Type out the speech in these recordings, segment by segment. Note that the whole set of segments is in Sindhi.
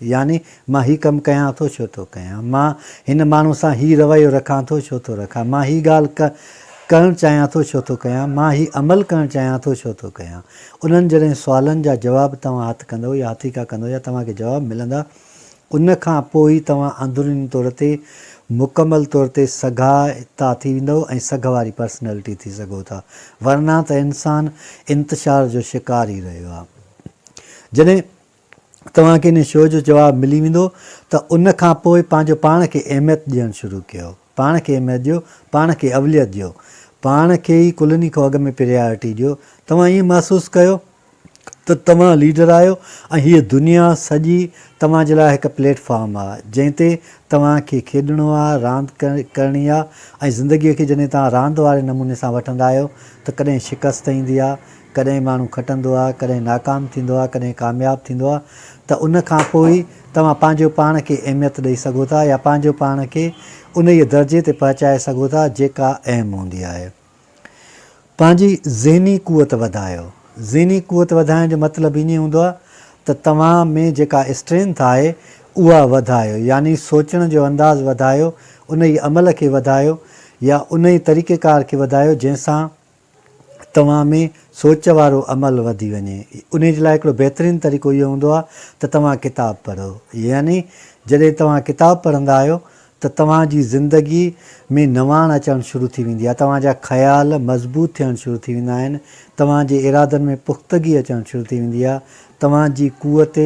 يعني مان هي ڪم ڪيان ٿو ڇو ٿو ڪيان، مان هن ماڻهو سان هي رويو رکان ٿو ڇو ٿو رکان، مان هي ڳالهه ڪه ڪرڻ چاهيان ٿو ڇو ٿو ڪيان، مان هي عمل ڪرڻ چاهيان ٿو ڇو ٿو ڪيان. انهن جڏهن سوالن جا جواب توهان هٿ ڪندؤ يا هٿيڪا ڪندؤ يا توهان کي جواب ملندا ان کان پوء ئي توهان اندروني طور تي مڪمل طور تي سگها تا ٿي ويندؤ ۽ سگهه واري پرسنالٽي ٿي سگهو ٿا ورنه ته انسان انتشار جو شڪار ئي رهيو آهي جڏهن توهان کي ان شو جو جواب ملي ويندو ته ان کان پوء پنهنجو پاڻ کي اهميت ڏيڻ شروع ڪيو پاڻ کي اهميت ڏيو پاڻ کي اوليت ڏيو پاڻ کي ئي ڪلني کان اڳ ۾ پريارٽي ڏيو توهان ائين محسوس ڪيو ته توهان ليڊر آهيو ۽ هيء دنيا سڄي توهان جي لاء هڪ پليٽ فارم آهي جنهن تي توهان کي کيڏڻو آهي راند ڪرڻي آهي ۽ زندگي کي جڏهن توهان راند واري نموني سان وٺندا آهيو ته ڪڏهن شڪست ايندي آهي ڪڏهن ماڻهو کٽندو آهي، ڪڏهن ناڪام ٿيندو آهي، ڪڏهن ڪامياب ٿيندو آهي ته ان کان پوء ئي توهان پنهنجو پاڻ کي اهميت ڏئي سگهو ٿا يا پنهنجو پاڻ کي انهيء درجي تي پهچائي سگهو ٿا جيڪا اهم هوندي آهي. پنهنجي ذهني قوت وڌايو. ذهني قوت وڌائڻ جو مطلب ايئن هوندو آهي ته توهان ۾ جيڪا اسٽرينٿ آهي اها وڌايو يعني سوچڻ جو انداز وڌايو، انهيء عمل کي وڌايو يا انهيء طريقيڪار کي وڌايو جنهن سان توهان ۾ سوچ وارو عمل وڌي وڃي. انهي جي لاء هڪڙو بهترين طريقو اهو هوندو آهي ته توهان ڪتاب پڙهو. يعني جڏهن توهان ڪتاب پڙهندا آهيو ته توهان جي زندگي ۾ نواڻ اچڻ شروع ٿي ويندي آهي، توهان جا خيال مضبوط ٿيڻ شروع ٿي ويندا آهن، توهان جي ارادن ۾ پختگي اچڻ شروع ٿي ويندي آهي، توهان جي قوت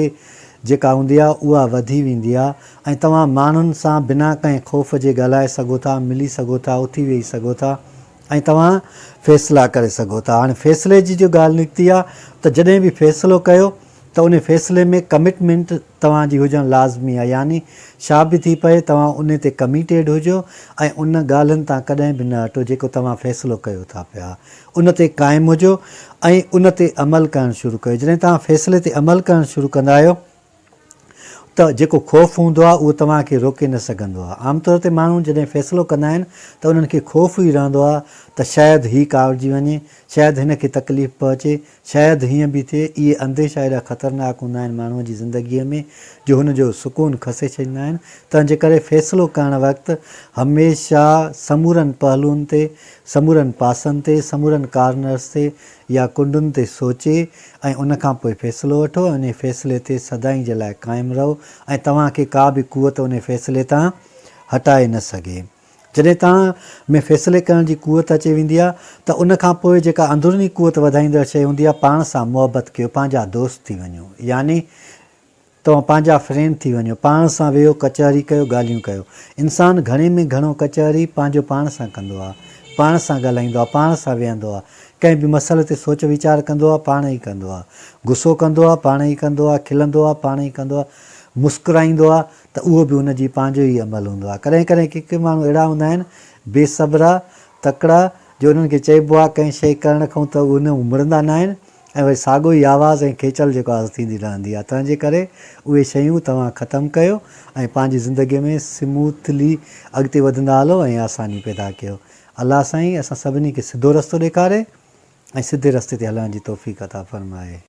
جيڪا هوندي آهي اها وڌي ويندي آهي ۽ توهان ماڻهن سان بنا ڪنهن خوف جي ڳالهائي سگهو ٿا، ملي سگهو ٿا، اٿي ويهي سگهو ٿا. ۽ توهان فيصلا ڪري سگهو ٿا. هاڻي فيصلي جي جو ڳالهه نڪتي آهي ته جڏهن به فيصلو ڪيو ته انهي فيصلي ۾ ڪمٽمينٽ توهان جي هجڻ لازمي آهي يعني شا به ٿي پئي توهان انهي تي ڪميٽيڊ هجو ۽ ان ڳالهن تان ڪڏهن به نه هٽو جيڪو توهان فيصلو ڪيو ٿا پيا ان تي قائم هجو ۽ ان تي عمل ڪرڻ شروع ڪيو جڏهن توهان فيصلي تي عمل ڪرڻ شروع ڪندا آهيو ته جيڪو خوف هوندو آهي اهو توهان کي روڪي نه سگهندو آهي. عام طور تي ماڻهو جڏهن فيصلو ڪندا آهن ته انهن کي خوف ئي رهندو آهي ته شايد هي ڪاوڙجي وڃي، شايد هن کي تڪليف پهچي، شايد هيئن به ٿئي. اهي انديشا ايڏا خطرناڪ هوندا آهن ماڻهوء جي زندگيء ۾ جو هن جو سڪون کسي ڇڏيندا آهن، تنهن جي ڪري فيصلو ڪرڻ وقت هميشه سمورن پهلوئن تي، سمورن پاسن تي، سمورن ڪارنرس تي يا ڪنڊن تي سوچي ۽ ان کان پوء فيصلو وٺو ۽ انهي فيصلي تي سدائين جي لاء قائم رهو ۽ توهان کي ڪا به قوت انهي فيصلي تان هٽائي نه سگهي. جڏهن توهان ۾ فيصلي ڪرڻ جي قوت اچي ويندي آهي ته ان کان پوء جيڪا اندروني قوت وڌائيندڙ شيء هوندي آهي پاڻ سان محبت ڪيو پنهنجا دوست ٿي وڃو يعني توهان پنهنجا فرينڊ ٿي وڃو. پاڻ سان ويهو ڪچهري ڪيو ڳالهيون ڪيو. انسان گهڻي ۾ گهڻو ڪچهري پنهنجو پاڻ سان ڪندو آ. پاڻ سان ڳالهائيندو آ. پاڻ سان ويهندو آ. ڪنهن به مسئلي تي سوچ ويچار ڪندو آ. پاڻ ئي ڪندو آ. غصو ڪندو آ. پاڻ ئي ڪندو آ. کلندو آ. پاڻ ئي ڪندو آ. مسڪرائيندو آ ته اهو به ان جي پنهنجو ئي عمل هوندو آ. ڪڏهن ڪڏهن ڪي ڪي ماڻهو اهڙا هوندا آهن بي صبرا، تڪڙا، جو انهن کي چئبو آ ڪنهن شيء ڪرڻ کانئون ته اهي نه امڙندا ناهن. ۽ وري ساڳو ئي آواز ۽ کيچل جيڪو آهي سو ٿيندي رهندي آهي تنهن جي ڪري اهي شيون توهان ختم ڪيو ۽ پنهنجي زندگي ۾ سموٿلي اڳتي وڌندا هلو ۽ آساني پيدا ڪيو الله سائين اسان سڀني کي سڌو رستو ڏيکاري ۽ سڌي رستي تي هلڻ جي توفيق عطا فرمائي.